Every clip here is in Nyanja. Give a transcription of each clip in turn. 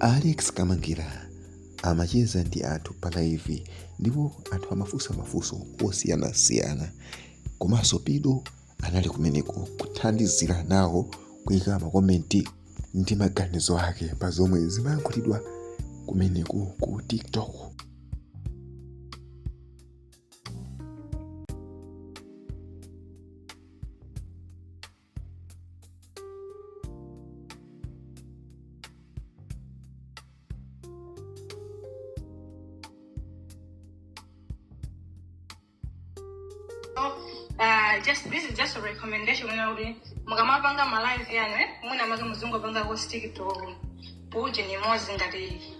alex kamangira amacheza ndi anthu pa live ndipo anthu amafunsa mafunso osiyanasiyana komanso pido anali kumeneko kuthandizira nawo kuika makomenti ndi maganizo ake pa zomwe zimayankhulidwa kumeneko ku tiktok Uh, just this is just a recommendation you know mukamapanga ma live yanu eh muna make muzingopanga ko stick to uje ni mozi ngati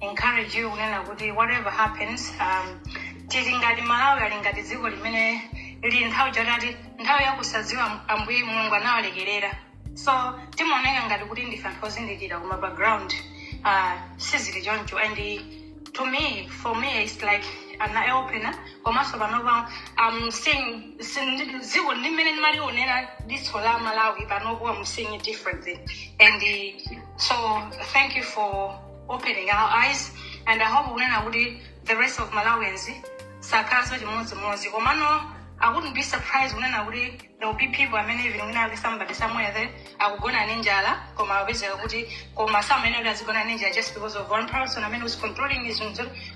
encourage you kunena kuti whatever happens um, tili ngati malawi ali ngati dziko limene lili nthawi ya chotati nthawi yakusadziwa Am- ambuye mulungu anawalekerera so timaoneka ngati kuti ndife anthu ozindikira koma background uh, sizili choncho and to me for me it's like an eye opener komanso panopa i'm seeing sin- dziko limene ndimalionera diso la malawi panopo i'm seeing it differently and uh, so thank you for opening our eyes and i hope kunena kuti the rest of malawians akhalanso chimodzimodzi komano i wouldn't be surprised kunena kuti there will be people amene even wina ake somebody somewhere there akugona ndi njala koma apezeka kuti koma sameneyo kuti azigona ndi njala just because of one person amene was controlling his nzo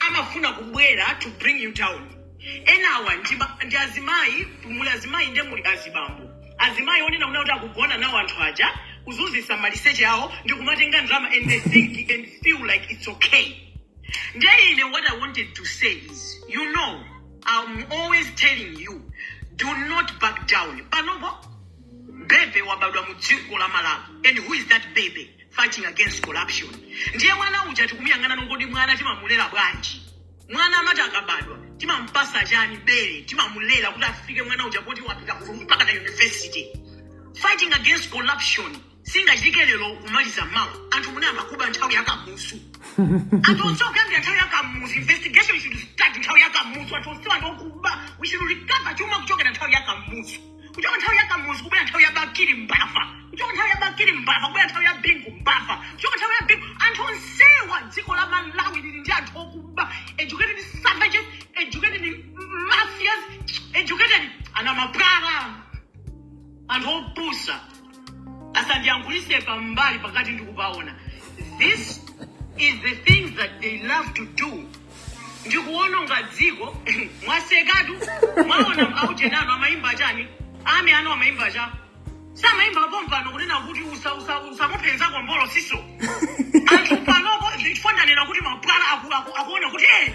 amafuna kubwera to bring you down enawa ndi ma- ndi azimayi muli azimayi nde muli azibambo azimayi onena kunena kuti akugona nawo anthu aja kuzuzisa maliseche awo ndi kumatenga ndalama and they think and feel like it's okay nde ine what i wanted to say is you know i'm always telling you do not back down panopo bebe wabadwa mu dziko la malawi and who is that baby fighting against corruption ndiye mwana uja tikumuyang'ana nongoti mwana timamulera bwanji mwana amati akabadwa timampasa chani bere timamulera kuti afike mwana uja poti wapita ku- mpaka na university fighting against corruption singachitike lero kumaliza mawa anthu munayamba kuba nthawi yakamuzu anthu onse kuyambira nthawi yakamuzu investigation should start nthawi yakamuzu anthu onse wa ndi okuba we should recover chuma kuchokera nthawi yakamuzu kuchoka nthawi ya kamuzu kubwera nthawi ya bakili mbava kuchoka nthawi ya bakili mbava kubwera nthawi ya bingu mbava kuchoka nthawi ya bingu anthu onsewa dziko la malawi lili ndi anthu okuba educated savages educated mafias educated ana mapwala anthu opusa asandiyankhulise pambali pakati ndikupaona this is the things that they love to do ndikuononga dziko mwasekatu mwaona aujeni anu amayimba chani ame anu amayimba cha samayimba pompano kunena kuti usa- usa- usamuphenza kombolo siso anthu panopo nchifukwa ndanena kuti mapwala aku- aku- akuona kuti eh,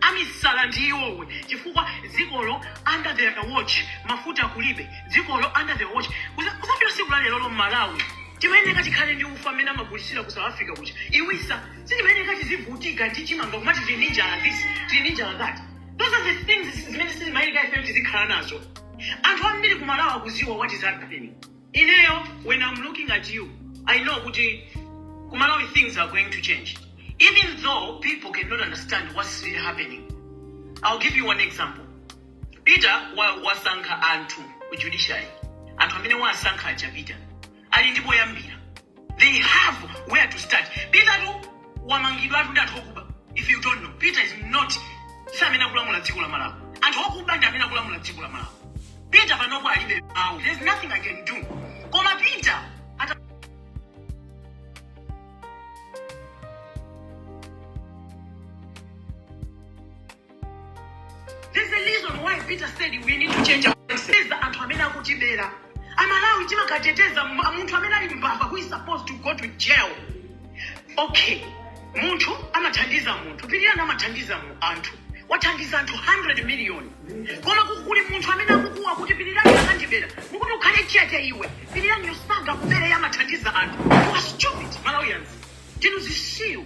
amisala ndi iwowo chifukwa dzikolo under their watch mafuta kulibe dzikolo under their watch Kuza- kuzafika siku la lero mmalawi timayeneka tikhale ndi ufa amene amagulisira ku south africa kuja iwisa sitimayeneka tizivutika ndi chimanga kumati tili ndi njala this tili ndi njala that those are the things zimene sizimayeneka ifeyo tizikhala nazo anthu ambiri kumalawi akuziwa what is happening Ineyo when am looking at you I know kuti ku Malawi things are going to change even though people cannot understand what's really happening. I'll give you one example. Peter wa, wasankha anthu ku judiciary anthu amene wasankha aja Peter ali ndi poyambira they have where to start petertu wamangidwatu ndi anthu okuba if you don't know peter is not si amene akulamula dziko la malawi anthu okuba ndi amene akulamula dziko la malawi peter panopo alibe mawu there's nothing i can do koma peter ata There's a reason why Peter said we need to change our mindset. anthu amene akutibera. Amalawi timakateteza mu- munthu amene ali mbava who is supposed to go to jail. Okay. Munthu amathandiza munthu. Pilirani amathandiza mu- anthu. Wathandiza anthu 100 million. Koma ku- kuli munthu amene akukuwa kuti pilirani akandibera. Mukuti ukhale chete iwe. Piliraniyo sangakubere amathandiza anthu. You are stupid Malawians. Ndinu zisiru.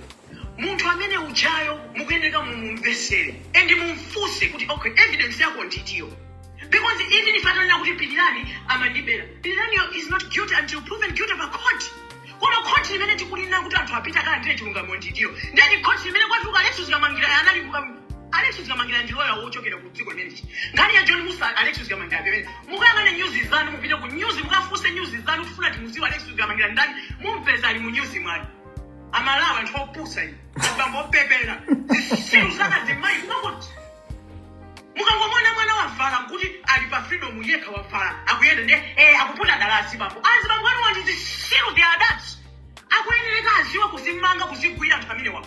munthu amene ujayo mukuyeneka mumumvesere and mumfunse kuti okay evidence yako ndi itiyo because even if atanena kuti pilirani amandibera piliraniyo is not guilty until proven guilty pa court koma khoti limene tikunena kuti anthu apite akalandire chilungamo ndi itiyo ndeni khoti limene kwatuka alexis kamangila anali kuka- alexis kamangila ndi loya wochokera ku dziko limeneli nkhani ya john mussa alexis kamangila pamene mukayang'ane nyuzi zanu mupite ku nyuzi mukafunse nyuzi zanu kufuna timuziwe alexis kamangila ndani mumpeza ali mu nyuzi mwanu amalawi anthu opusa inu azibambo opepera zisiru za azimayi kumangoti mukangomuona mwana wavala nkuti ali pa freedom yekha wavala akuyenda ndi eh, akuputa dala azibambo azibambo anuwa ndi zisiru the adults akuyenereka aziwa kuzimanga kuzigwira anthu amenewawo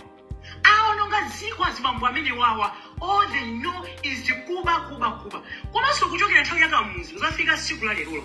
aononga dziko azibambo amenewawa all they know is kuba kuba kuba komanso kuchokera nthawi ya kamuzu kuzafika siku la lerolo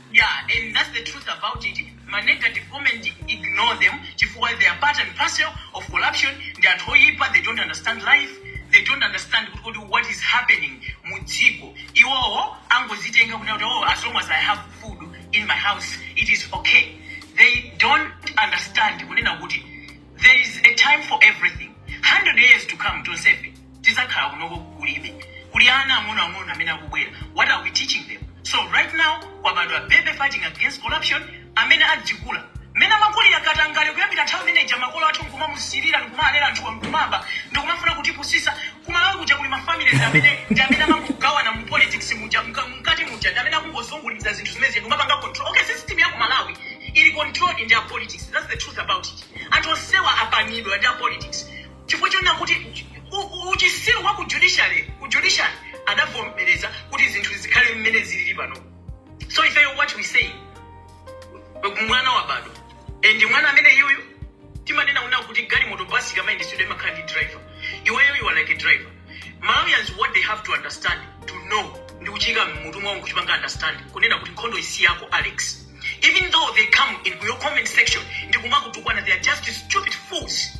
yeah and that's the truth about it ma negative comment ignore them chifukwa they are part and parcel of corruption ndi anthu oyipa they don't understand life they don't understand kuti kodi what is happening mu dziko iwowo angozitenga kuti kuti oh as long as i have food in my house it is okay they don't understand kunena kuti there is a time for everything 100 years to come tonsefe tidzakhala kunoko kulibe kuli ana ang'ono ang'ono amene akubwera what are we teaching them so right now kwabadwa baby fighting against corruption amene adzikula mmene amakulira katangale kuyambira nthawi imene ija makolo athu nkumamusirira nkumalera anthuwa nkumaba ndikumafuna kutipusisa kumalawi kuja kuli mafamily ndi amene ndi amene amangogawana mu politics muja mka- mkati muja ndi amene akungozunguliza zinthu zimene zija ndikumapanga control okay system ya kumalawi ili controlled ndi a politics that's the truth about it anthu onsewa apanidwa ndi a politics chifukwa chonena kuti u- uchisiru wa ku judiciary ku judiciary adavomereza kuti zinthu zikhale mmene zilili pano so ifeyo what we say mwana wabadwa and mwana amene iyoyo timanena kunena kuti galimoto basi kamayendesedwe imakhala ndi driver iweyo you are like a driver malawians what they have to understand to know ndi kuchiika mmutu mwawo nkuchipanga understand kunena kuti nkhondo isi yako alex even though they come in your comment section ndi kumakutukwana they are just stupid fools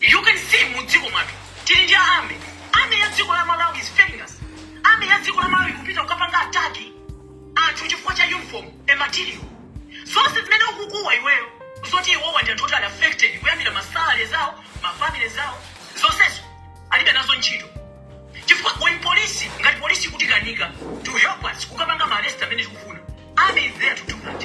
You can see mu dziko mwathu tili ndi army. Army ya dziko la Malawi is failing us. Army ya dziko la Malawi kupita kukapanga attack anthu chifukwa cha uniform and material. So zimene ukukuwa iweyo zoti iwowa ndi anthu oti ali affected kuyambira ma salary zawo, mafamily zawo, zonsezo alibe nazo ntchito. Chifukwa when police ngati police ikutikanika to help us kukapanga ma arrest amene tikufuna. Army is there to do that.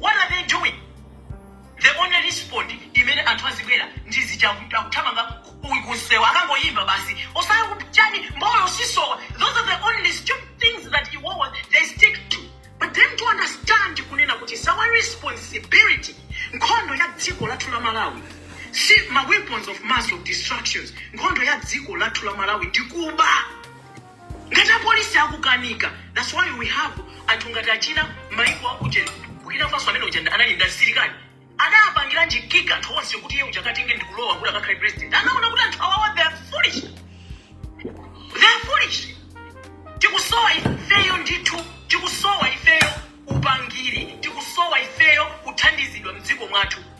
What are they doing? The only response imene anthu azibwera ndi zija akuthamanga ku- ku- kunsewu akangoyimba basi osaya kuti chani mbolo sisowa those are the only stupid things that iwowa they stick to but then to understand kunena kuti it's our responsibility nkhondo ya dziko lathu la malawi si ma weapons of mass of destructions nkhondo ya dziko lathu la malawi ndi kuba Ngati apolisi akukanika that's why we have anthu ngati achina maiko akuja ku Burkina Faso amene uja ndi- anali ndi msilikali adapangiranji kick anthu onse kuti iye uja akatenge ndi kulowa kuti akakhale president anaona kuti anthu awawa they are foolish they are foolish tikusowa ifeyo ndithu tikusowa ifeyo upangiri tikusowa ifeyo kuthandizidwa mdziko mwathu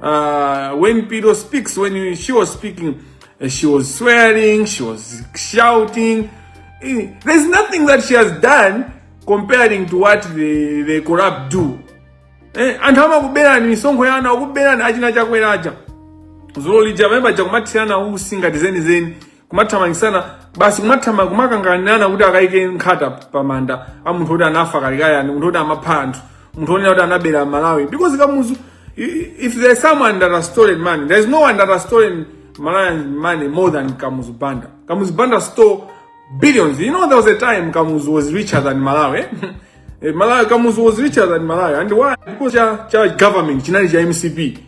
Uh, when Pido speaks, when she was speaking, uh, she was swearing, she was shouting. Eh, there's nothing that she has done comparing to what the, the corrupt do. Eh, anthu amakuberani misonkho ya ana akuberani achina chakweracha zolija pamene paja kumathirana usi ngati zenizeni kumathamangisana basi kumathama kumakanganana kuti akaike nkhata pa manda a munthu oti anafa kalekale anali munthu oti amapha anthu munthu onena kuti anabera malawi because kamuzu i- i- if there is someone that has stolen money there is no one that has stolen malawian money more than kamuzu banda kamuzu banda stole billions you know there was a time kamuzu was richer than malawi eh? Eh, malawi kamuzu was richer than malawi and why because cha, cha government chinali cha mcp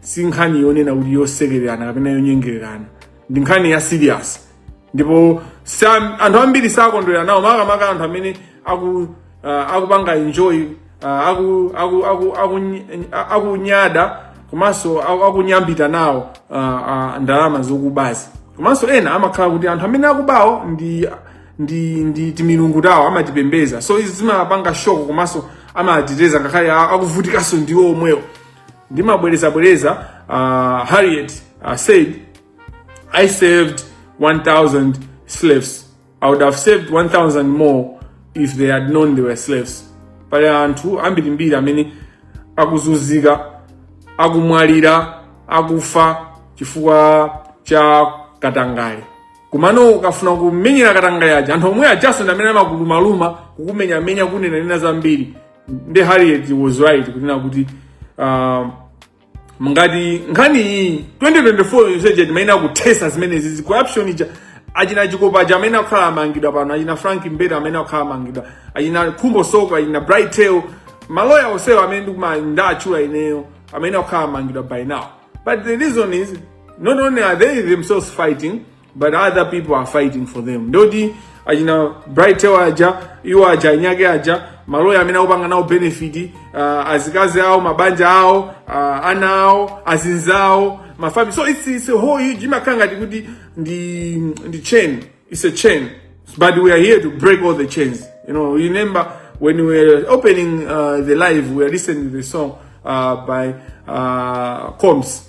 si nkhani yonena kuti yosekererana kapena yonyengererana ndi nkhani ya serious ndipo sa- anthu ambiri sakondwera nawo makamaka anthu amene aku ah, akupanga enjoy ah, aku aku aku aku- ah, akunyada komanso aku- akunyambita nawo ah, ah, ndalama zokubazi komanso ena amakhala kuti anthu amene akubawo ndi ndi ndi timilungu tawo amatipembeza so izi zimapanga shock komanso amateteza ngakhale a- akuvutikanso ndiwo omwewo ndimabwerezabwereza uh, harriet uh, said i saved 1000 slaves i would have saved 1000 more if they had known they were slaves pali anthu ambirimbiri amene akuzunzika akumwalira akufa chifukwa cha katangale komano ukafuna kumenyera katangale aja anthu omwe ajaso ndi amene amakuluma-luma kukumenya-menya kunena-nena zambiri nde harriet was right kunena kuti uh, ngati nkhani iyi 2024 yonseje tikanaithetsa zimenezi zi corruption ija achina chikopa aja amene akhala amangidwa pano achina frank mbeta amene akhala amangidwa achina khumbo soko achina bright tail maloya onsewo amene ndikuwatchula ineyo amene akhala amangidwa by now but the reason is not only are they themselves fighting but other people are fighting for them nde kuti achina bright Taylor aja iwo aja anyake aja maloya amene akupanga nawo benefit uh, azikazi awo mabanja awo uh, ana awo azinzawo mafans so it's, it's a whole huge imakhala ngati kuti ndi ndi chain it's a chain but we are here to break all the chains you know remember when we were opening uh, the live we were listening to the song uh, by uh, combs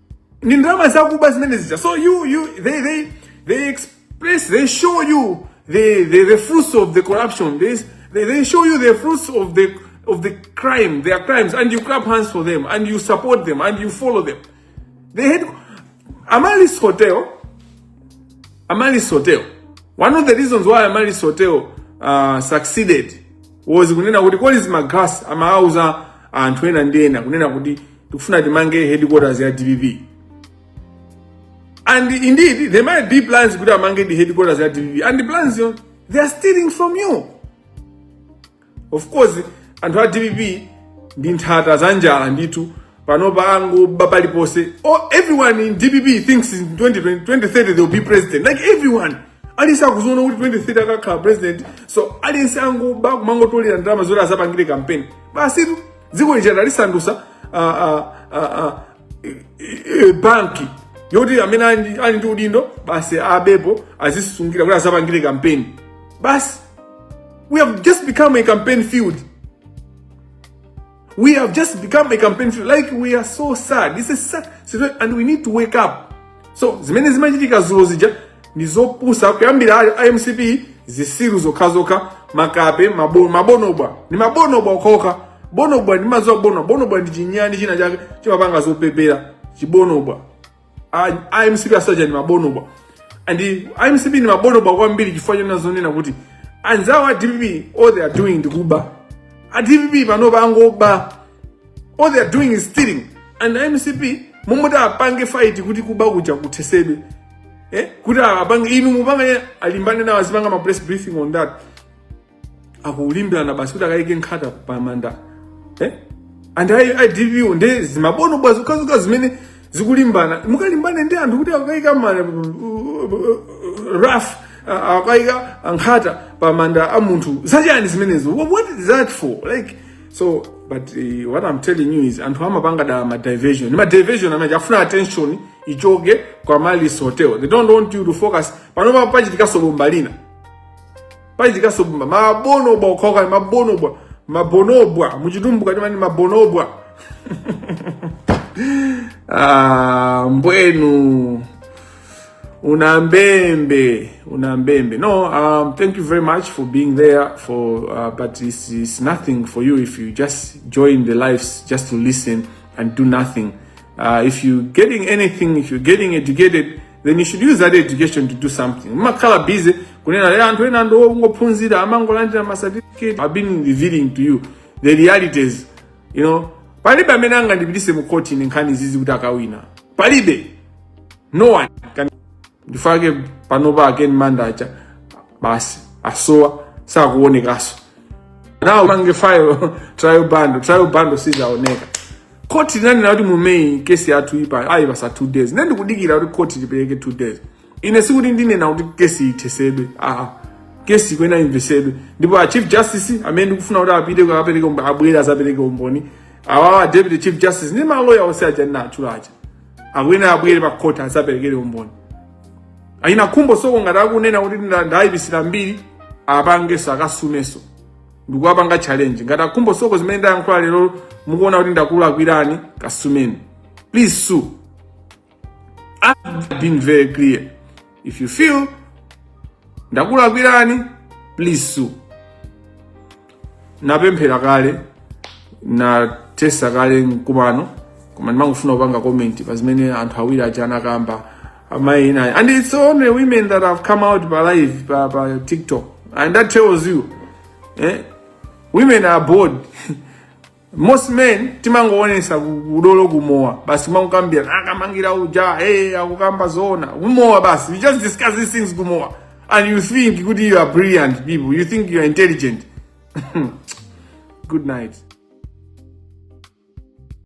ndi ndalama zakuba zimene zija so you you they they they express they show you the the, the fruits of the corruption they, they they show you the fruits of the of the crime their crimes and you clap hands for them and you support them and you follow them they had Amaryllis Hotel Amaryllis Hotel one of the reasons why Amaryllis Hotel uh, succeeded was kunena kuti Collins Magalasi amauza anthu ena ndi ena kunena kuti tikufuna timange headquarters ya dpp and indeed they might be plans kuti amange ndi headquarters ya dpp and the plans zo they are stealing from you of course anthu a dpp ndi nthata za njala ndithu panopa akungoba paliponse oh, everyone in dpp thinks in 2020, 2030 they will be president like everyone aliyense akuziona kuti 2030 akakhala president so aliyense akungoba kumangotolera ndalama zoti azapangire campaign basitu dziko lija analisandusa uh, uh, uh, uh, eh, banki yoti amene ali ndi udindo basi abepo azisungira kuti azapangire kampeni basi we have just become a campaign field we have just become a campaign field like we are so sad this is sad and we need to wake up so zimene zimachitika zulo zija ndi zopusa kuyambira a mcp zisiru zokhazokha makape mabo- mabonobwa ndi mabonobwa okhaokha bonobwa mumaziwa bonobwa bonobwa ndi chinyani china chake chimapanga zopepera chibonobwa A- a mcp aja ndi mabonobwa and a mcp ndi mabonobwa kwambiri chifukwa chonena zoona kuti anzawo a dpp all they are doing ndi kuba a dpp panopa angoba all they are doing is stealing and mcp m'malo moti apange fight kuti kuba kuja kuthesedwe eh? kuti apange inu mupange alimbane nawo azipanga ma press briefing on that akulimbirana basi kuti akayike nkhata pamanda eh? and dpp nde zimabonobwa zokhazokha zimene zikulimbana mukalimbane ndi anthu kuti akayika ma wreath akayika nkhata pamanda a munthu zachani zimenezo what is that for like so but uh, what i'm telling you is anthu amapanga dala ma diversion ma diversion amene afuna attention ichoke kwa amaryllis hotel they don't want you to focus panopa pachitikaso bomba lina pachitikaso bomba mabonobwa okhaokha ndi mabonobwa mabonobwa muchitumbuka timati mabonobwa ah, mbwenu Unambembe, Unambembe. No, um, thank you very much for being there. For uh, but it's, it's nothing for you if you just join the lives just to listen and do nothing. Uh, if you're getting anything, if you're getting educated, then you should use that education to do something. Makala busy kunena le anthu ena ndo ongophunzira amangolandira ma certificate. I've been revealing to you the realities, you know. Palibe amene angandipitise mu court in nkhani zizi kuti akawina. Palibe. no one can ndi chifukwa chake panopa a ken manda aja basi asowa sakuonekaso nawo mange file trial bundle trial bundle sizaoneka khoti linanena kuti mu may kesi yathuyi ayipatsa two days ne ndikudikira kuti khoti lipereke two days ine sikuti ndinena kuti kesi ithesedwe aa kesi ikuyenera imvesedwe ndipo a chief justice amene ndikufuna kuti apite akapereke umboni abwere azapereke umboni awawa deputy chief justice ndi maloya onse aja ndinatchula aja akuyenera abwere pa court azaperekere umboni achina khumbo soko ngati akunena kuti ndayipitsira mbiri apangeso akasumeso ndikuwapanga challenge ngati akhumbo soko zimene ndayankhula lero mukuona kuti ndakulakwirani kasumeni please sue I've been very clear if you feel ndakulakwirani please sue napemphera kale nathesa kale mkumano koma ndimangofuna kupanga comment pa zimene anthu awiri aja anakamba amayi inayi and it's only women that have come out pa live pa, pa tiktok and that tells you eh? women are bored most men timangoonesa ku- udolo kumowa basi kumangokambira akamangira uja hey, akukamba zoona kumowa basi we just discuss these things kumowa and you think kuti you are brilliant people you think you are intelligent good night